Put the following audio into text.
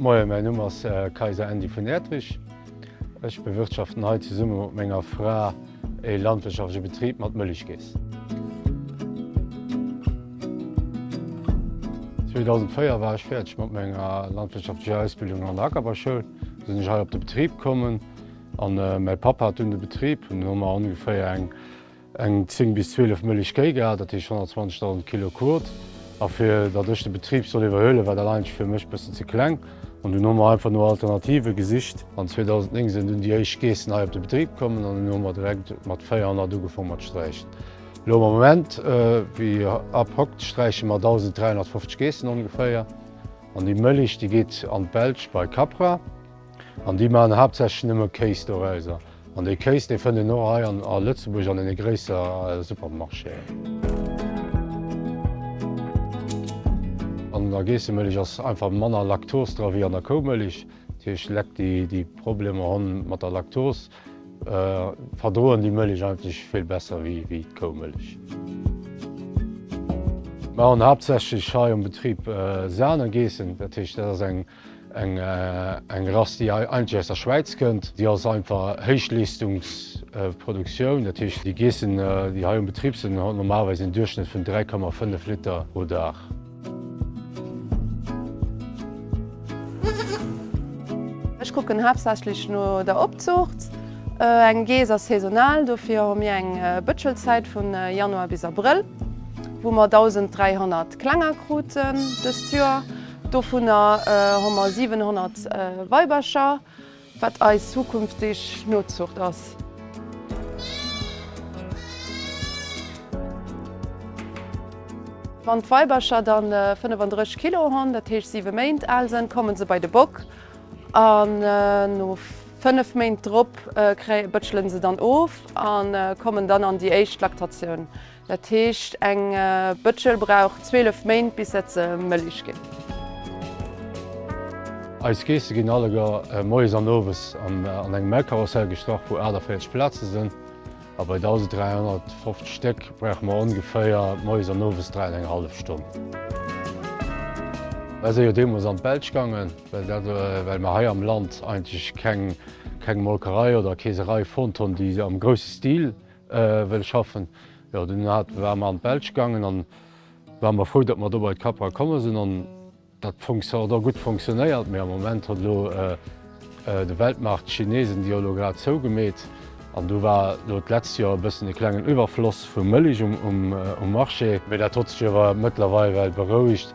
Moien, mäin Numm ass Kayser Andy vun Erdrich. Ech bewirtschaften hei zesumme mat menger Fra ee landwirtschaftleche Betrib mat Mëllechkeess. 2004 war ech fäerdeg mat menger landwirtschaftlecher Ausbildung an der Ackerbauschoul. Du sinn ech hei op de Betrib kommen an mäi Papp hat dunn de Betrib. An dunn hu mer ongeféier eng Eng 10 bis 12 Mëllech Kéi gehat, dat heescht 120.000 Kilo Kot. A fir datt ech de Betrib soll iwwerhuelen, war dat eigentlech fir mech e bëssen ze kleng. An dunn hu mer einfach no Alternative gesicht. An 2009 sinn dunn déi éischt Geessen hei op de Betrib kommen an dunn hu mer direkt mat 400 ugefaang mat sträichen. Elo am Moment, wéi ab hokt, sträiche mer 1.350 Geessen ongeféier. An déi Mëllech, déi geet an d'Belsch bei Capra. An déi maachen haaptsächlech nëmme Kéis dorauser. An dee Kéis, dee fënnt een och hei a Lëtzebuerg an deene gréisser Supermarchéen. An der Geessemëlich ass einfach manner Laktos dra wéi an der Koumëlich. Dat heescht, Lek déi Problemer hunn mat der Laktos, verdroen déi Mëlich eigentlech vill besser wéi d'Koumëlich. Mer hunn haaptsächlech hei um Betrib Sahnegeessen. Dat heescht, dat ass eng Eng Rass déi eigentlech aus der Schwäiz kënnt. Déi ass einfach Héichleestungs-Produktioun. Dat heescht déi Geessen déi hei um Betrib sinn hunn normalerweis en Duerchschnëtt vun 3,5 Liter pro Dag. Ech kucken haaptsächlech no der Opzuucht. Eng Geess ass saisonal, dofir hu mir eng Bëtschelzäit vun Januar bis Abrëll, wou mer 1.300 Klenger kruten dëst Joer. Dovunner hu mer 700 Weibercher, wat eis zukünftig Nozucht ass. Wann d'Weibercher da 35 Kilo hunn, dat heescht 7 Méint al sënn, komme se bei de Bock an no 5 Méint drop bëtschele se dann of a kommen dann an déi éischt Laktatioun. Dat heescht eng Bëtschel brauch 12 Méint bis dat se mëllig ginn. Eis Geesse ginn alleguer moies an owes an engem Melkkarussell gestrach wou 48 Plaze sinn a bei 1.350 Stéck brauche mer ongeféier moies an owes 3 an eng hallef Stonn. Mer si jo deemools an d'Belsch gaangen, well mer hei am Land eigentlech keng Molkerei oder Keeserei fonnt hunn déi am grousse Stil wëll schaffen. Jo dunn hat ware mer an d'Belsch gaangen an ware mer frou datt mer do bei d'Capra komme sinn an dat fonction hat och gutt fonctionnéiert. Mee am Moment huet elo de Weltmarkt, d'Chinesen déi hu elo grad zou gemeet an do war elo d'letzt Joer e bëssen e klengen Iwwerfloss vu Mëllech um Marché. Mee dat hott sech iewer mëttlerweil well berouegt.